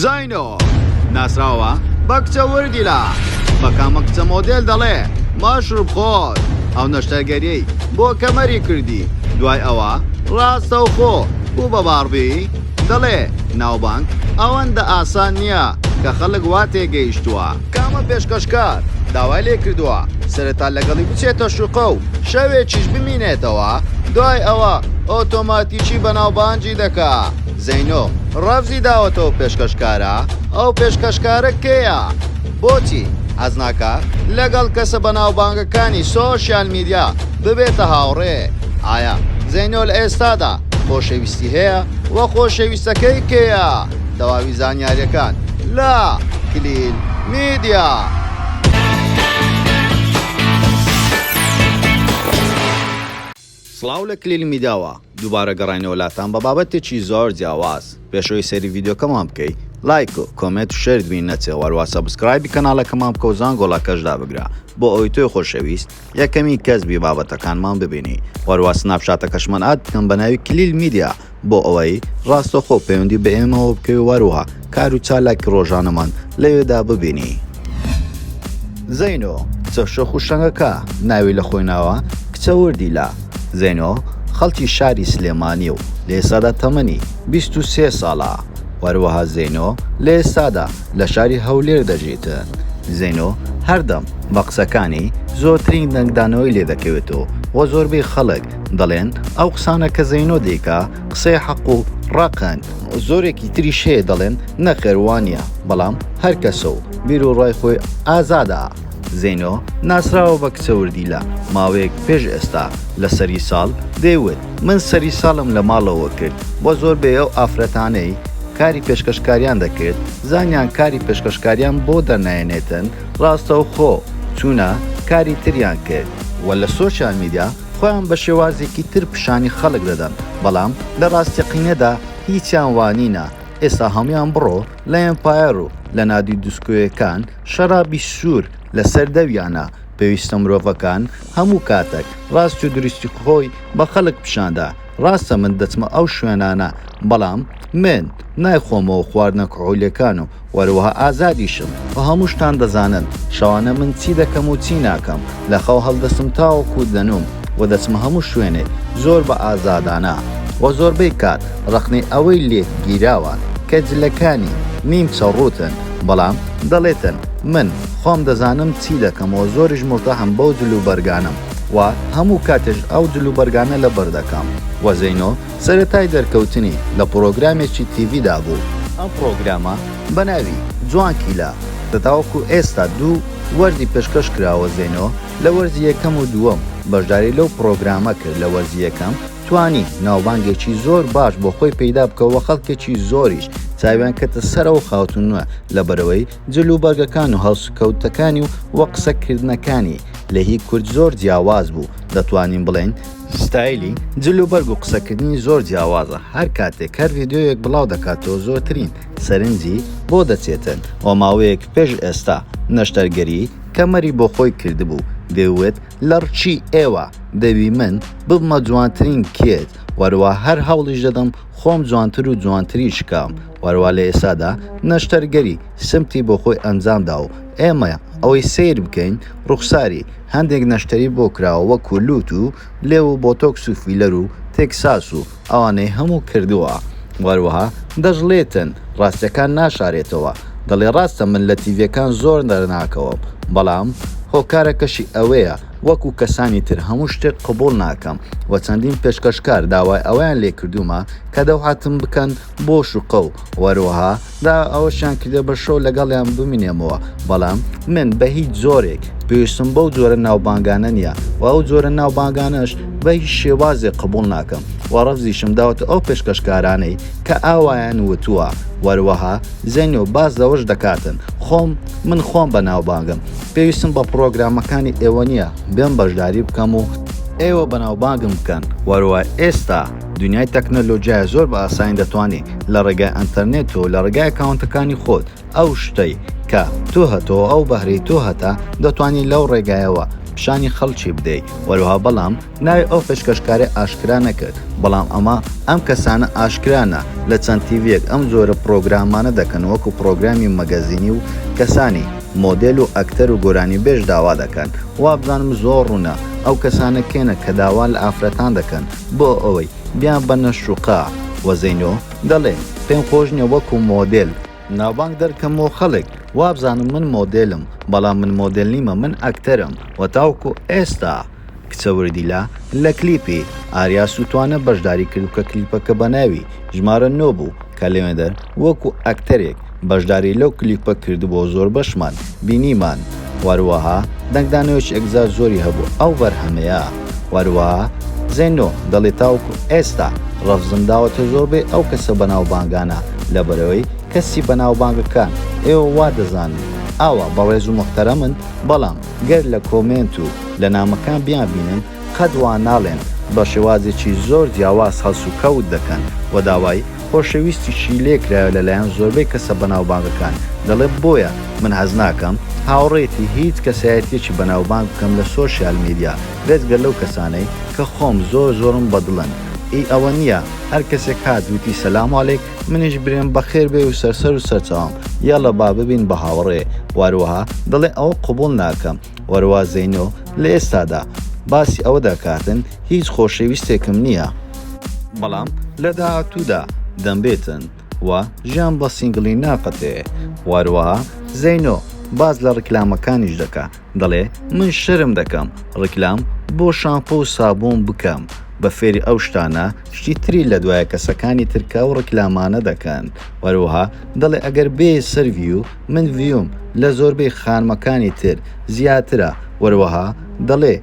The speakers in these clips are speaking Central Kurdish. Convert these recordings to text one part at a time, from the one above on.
زینۆ، ناسراوە بە کچە وردیلە، بە کامە کچە مۆدێل دەڵێ مەشروب خۆر، ئەو نەشتەرگەریەی بۆ کەمەری کردی دوای ئەوە ڕاستەوخۆ بوو بە باربی، دەڵێ ناوبانگ ئەوەندە ئاسان نیە کە خەڵک وا تێگەیشتوە. کامە پێشکەشکار داوای لێکردوە سەرەتا لەگەڵی بچێتە شوقە و شەوێکیش بمینێتەوە دوای ئەوە ئۆتۆماتیکی بەناوبانگی دەکا. زەینۆ ڕەفزی داوەتەوە پێشکەشکارە؟ ئەو پێشکەشکارە کێیە؟ بۆچی حەز ناکات لەگەڵ کەسە بەناوبانگەکانی سۆشیال میدیا ببێتە هاوڕێ؟ ئایا زەینۆ لە ئێستادا خۆشەویستی هەیە و خۆشەویستەکەی کێیە؟ تەواوی زانیارییەکان لە کلیل میدیا. سڵاو لە کلیل میداوە دووبارە گەڕاینەوە لاتان بە بابەتێکی زۆر جیاواز پێش ئەوەی سەیری ڤیدیۆکەمان بکەی لایک و کۆمێت و شێرت بی نەچێ وەروە سەبسکرایبی کەناڵەکەمان بکە و زانگۆڵەکەش دابگرە بۆ ئەوەی تۆی خۆشەویست یەکەمین کەس بی بابەتەکانمان ببینی وەروە سناپشاتەکەشمان ئاد بکەم بە ناوی کلیل میدیا بۆ ئەوەی ڕاستەوخۆ پەیوەندی بە ئێمەوە بکەوی وەروها کار و چالاکی ڕۆژانەمان لەوێدا ببینی. زەینۆ، چە شۆخ و شەنگەکە ناوی لە خۆی ناوە، کچە وردی لە، زەینۆ، خەڵکی شاری سلێمانیە و لە ئێستادا تەمەنی بیست و سێ ساڵە، وەروەها زەینۆ لە ئێستادا لە شاری هەولێر دەژیت، زەینۆ هەردەم بە قسەکانی زۆرترین دەنگدانەوەی لێدەکەوێت و زۆربەی خەڵک دەڵێن ئەو قسانە کە زەینۆ دەیکا قسەی حەق و ڕەقن. زۆرێکی تریش هەیە دەڵێن نەخێر وانە بەڵام هەر کەسە و بیر و ڕای خۆی ئازادە. زەینۆ ناسراوە بە کچە وردی لە ماوەیەک پێش ئێستا لە سەری ساڵ دەیوت من سەری ساڵم لە ماڵەوە کرد وە زۆربەی ئەو ئافرەتانەی کاری پێشکەشکاریان دەکرد زانیان کاری پێشکەشکاریان بۆ دەرنایەنێتن ڕاستەوخۆ چوونە کاری تریان کرد وە لە سۆشیال میدیا خۆیان بە شێوازێکی تر پیشانی خەڵک دەدەن بەڵام لە ڕاستەقینەدا هیچیان وا نینە ئێستا هەموویان بڕۆ لە ئێمپایەر و لە نادی دوسکۆیەکان شەرابی سوور لە سەر دەویانە پێویستە مرۆڤەکان هەموو کاتەک ڕاستی و دروستی خۆی بە خەڵک پیشان دا ڕاستە من دەچمە ئەو شوێنانە بەڵام من نایخۆمەوە خواردنە کحولیەکان و وەروەها ئازادیشم و هەموو شتان دەزانن شەوانە من چی دەکەم و چی ناکەم لە خەو هەڵدەستم تاوەکو دەنووم و دەچمە هەموو شوێنێک زۆر بە ئازادانە و زۆربەی کات ڕەخنەی ئەوەی لێت گیراوە کە جلەکانی نیمچە ڕووتن بەڵام دەڵێتن من خۆم دەزانم چی دەکەم و زۆریش مورتاحم بەو جلوبەرگانەم و هەموو کاتێش ئەو جل و بەرگانە لەبەر دەکەم و زەینۆ سەرەتای دەرکەوتنی لە پڕۆگرامێکی تیڤیدا بوو، ئەم پڕۆگرامە بە ناوی، جوان کیلە، دە تاوەکو ئێستا دوو وەرزی پێشکەش کراوە زەینۆ لە وەرزی یەکەم و دووەم بەشداری لەو پڕۆگرامە کرد لە وەرزی یەکەم توانی ناوبانگێکی زۆر باش بۆ خۆی پەیدا بکە و خەڵکێکی زۆریش چاویان کەتە سەرەوە خاتوونە لەبەرئەوەی جل و بەرگەکان و هەڵسوکەوتەکانی و و قسە کردنەکانی لە هی کورد زۆر جیاواز بوو دەتوانین بڵێین ستایلی جل و بەرگ و قسە کردنی زۆر جیاوازە هەر کاتێک هەر ڤیدیۆیەک بڵاو دەکاتەوە زۆرترین سەرنجی بۆ دەچێتن و ماوەیەک پێش ئێستا نەشتەرگەری کەمەری بۆ خۆی کردبوو دەیوت لە ڕچی ئێوە دەوی من ببمە جوانترین کێت وەروا هەر هەوڵیش دەدەم خۆم جوانتر و جوانتریش کەم هەروا لە ئێستادا نەشتەرگەری سمتی بۆ خۆی ئەنجام دا و ئێمە ئەوەی سەیر بکەین ڕوخساری هەندێک نەشتەری بۆ کراوە وەکوو لووت و لێو و بۆتۆکس و فیلەر و تێکساس و ئەوانەی هەموو کردووە و هەروەها دەشڵێتن ڕاستیەکان ناشارێتەوە دەڵێ ڕاستە من لە تیڤیەکان زۆر دەرناکەوم بەڵام هۆکارەکەشی ئەوەیە وەکوو کەسانی تر هەموو شتێک قبوڵ ناکەم و چەندین پێشکەشکار داوای ئەوەیان لێ کردوومە کە دەوحاتم بکەن بۆ شوقە و وەروەها دا ئەوەشیان کردە بە شەو لەگەڵیان بمینێمەوە بەڵام من بە هیچ جۆرێک پێویستم بەو جۆرە ناوبانگانە نییە و ئەو جۆرە ناوبانگانەش بە هیچ شێوازێک قبول ناکەم و ڕەفزیشم داوەتە ئەو پێشکەشکارانەی کە ئاوایان وتووە وەروەها زەنی و باز لەوەش دەکاتن خۆم من خۆم بە ناوبانگم پێویستم بە پرۆگرامەکانی ئێوە نییە بێم بەشداری بکەم و ئێوە بەناوبانگم بکەن وەروە ئێستا دنیای تەکنەلۆجیا زۆر بە ئاسانی دەتوانی لە ڕێگای ئەنتەرنێت و لە ڕێگای ئەکاونتەکانی خۆت ئەو شتەی کە تۆ هەتەوە ئەو بەهرەی تۆ هەتە دەتوانی لەو ڕێگایەوە پیشانی خەڵکی بدەی وەروها بەڵام ناوی ئەو پێشکەشکارە ئاشکرا نەکرد بەڵام ئەمە ئەم کەسانە ئاشکرانە لە چەند تیڤیەک ئەم جۆرە پڕۆگرامانە دەکەن وەکو پڕۆگرامی مەگەزینی و کەسانی مۆدێل و ئەکتەر و گۆرانیبێژ داوا دەکەن وابزانم زۆر ڕوونە ئەو کەسانە کێنە کە داوا لە ئافرەتان دەکەن بۆ ئەوەی بیان بەنە شوقە. وە زەینۆ دەڵێ پێم خۆش نیە وەکو مۆدێل ناوبانگ دەرکەم و خەڵک وابزانن من مۆدێلم بەڵام من مۆدێل نیمە من ئەکتەرم وە تاوەکو ئێستا کچە وردیلە لە کلیپی ئاریا سوتوانە بەشداری کردو کە کلیپەکە بەناوی ژمارە نۆ بوو کەلێنەر وەکو ئەکتەرێک بەشداری لەو کلیپە کردبوەو زۆربەشمان بینیمان وەروەها دەنگدانەوەیەکی ئەکجار زۆری هەبوو ئەو بەرهەمەیا وەروەها زێنۆ دەڵێت تاوەکو ئێستا ڕەفزم داوەتە زۆربەی ئەو کەسە بەناوبانگانە لەبەرئەوەی کەسی بەناوبانگەکان ئێوە وادەزانن ئاوا بەڕێزو موحتەرەمن بەڵام گەر لەکۆمێنت و لەنامەکان بیانبینن قەت وا ناڵێن، بە شێوازێکی زۆر جیاواز هەڵسوکەوت دەکەن و داوای خۆشەویستیشی لێکرایەوە لەلایەن زۆربەی کەسە بەناوبانگەکان، دەڵێت بۆیە من هەست ناکەم هاوڕێیەتی هیچ کەسایەتییەکی بەناوبانگ بکەم لە سۆشیال میدیا بێجگە لەو کەسانەی کە خۆم زۆر زۆرم بەدڵن، ئی ئەوە نییە هەر کەسێک هات وتی سەلام عەلێک منیش برێم بەخێر بێی و سەرسەر و سەرچاوم یەڵە با ببین بە هاوڕێ، واروەها دەڵێ ئەوە قبوڵ ناکەم، وەروا زەینۆ لە ئێستادا باسی ئەوە دەکاتن هیچ خۆشەویستێکم نییە، بەڵام لە داهاتوودا دەمبێتن و ژیان بە سینگڵی ناقەتێ، وەروەها زەینۆ باس لە ڕیکلامەکانیش دەکا دەڵێ من شەرم دەکەم ڕیکلام بۆ شامپۆ و سابوون بکەم بە فێری ئەو شتانە شتی تری لە دوایە کەسەکانی ترکە ئەو ڕیکلامانە دەکەن، وەروەها دەڵێ ئەگەر بێ سەر ڤیو من ڤیوم لە زۆربەی خانمەکانی تر زیاترە وەروەها دەڵێ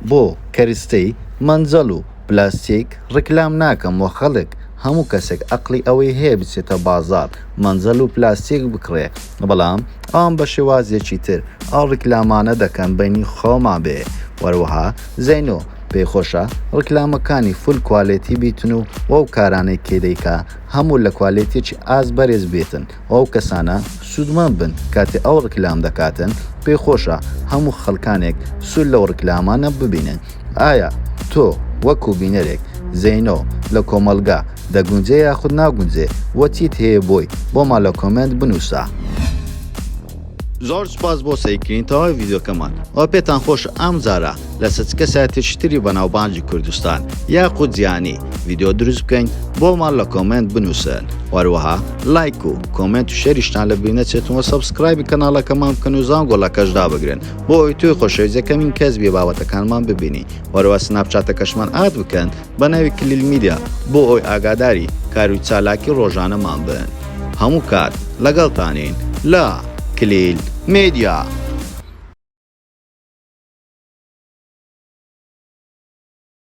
بۆ کەرستەی مەنجەڵ و پلاستیک ڕیکلام ناکەم وە خەڵک هەموو کەسێک ئەقڵی ئەوەی هەیە بچێتە بازاڕ مەنجەڵ و پلاستیک بکڕێ بەڵام ئەوان بە شێوازێکی تر ئەو ڕیکلامانە دەکەن بەینی خۆمان بێ وەروەها زەینۆ پێی خۆشە ڕیکلامەکانی فول کوالێتی بیتن و وەو کارانەی کێدەیکا هەموو لە کوالێتێکی ئاست بەرێز بێتن و ئەو کەسانە سوودمەند بن کاتێ ئەو ڕکلام دەکاتن پێی خۆشە هەموو خەلکانێک سوود لەو ڕکلامانە ببینن ئایا تۆ وەکو بینەرێک زینۆ لە کۆمەلگا دەگونجێ یاخود ناگونجێ وە چیت هەیە بۆی بۆمان لە کۆمێنت بنووسە. زۆر سوپاس بۆ سەیرکردنی تەواوی ڤیدیۆکەمان ئەوە پێتان خۆش ئەم جارە لەسەر چ کەسایەتێکی تری بەناوبانگی کوردستان یاخود جیهانی ڤیدیۆ دروست بکەین بۆمان لە کۆمێنت بنووسن وەروەها لایک و کۆمێنت و شەریشتان لە بیر نەچێتەوە سەبسکرایبی کەناڵەکەمان بکەن و زان گۆڵەکەشدا بگرن بۆ ئەوی توی خۆشەویستەکەمین کەس بێ بابەتەکانمان ببینی وەرەوە سناپچاتەکەشمان ئاد بکەن بە ناوی کلیل میدیا بۆ ئەوەی ئاگاداری کار و چالاکی ڕۆژانەمان بن هەموو کات لەگەڵتانین لە کلیل میدیا.